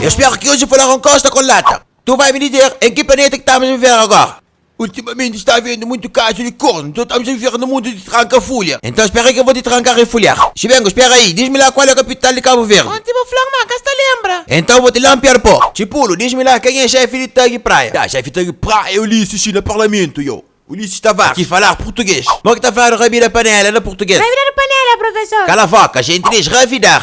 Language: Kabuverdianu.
Eu spera ki oji falaron kosta kon lata. Tu vai mi dizer em ki planeta ki tamus a viver agora? Ultimamente sta havendo muito caso de corno, então estamos a viver no mundo de Tranka fulha. Enton spera ke vo te trankar e fulhar. Xibengu, spera ayi. Diz-mi la kual e kapital di Kabu Verdi. Onti bo fla-m ma ka sta lembra. Enton vo te lampiar po. Txipulu, diz-mi la ken e xefi di Tagi Praia. Ta, xefi Tagi Praia e Ulisses xi na parlamentu. Yo, Ulisses Tavares, ki falar purtuges. Mo ki ta fla-nu ra bira panela na purtuges. Ra bira-nu panela, profesor. Kala voka, xenti diz ra vidar.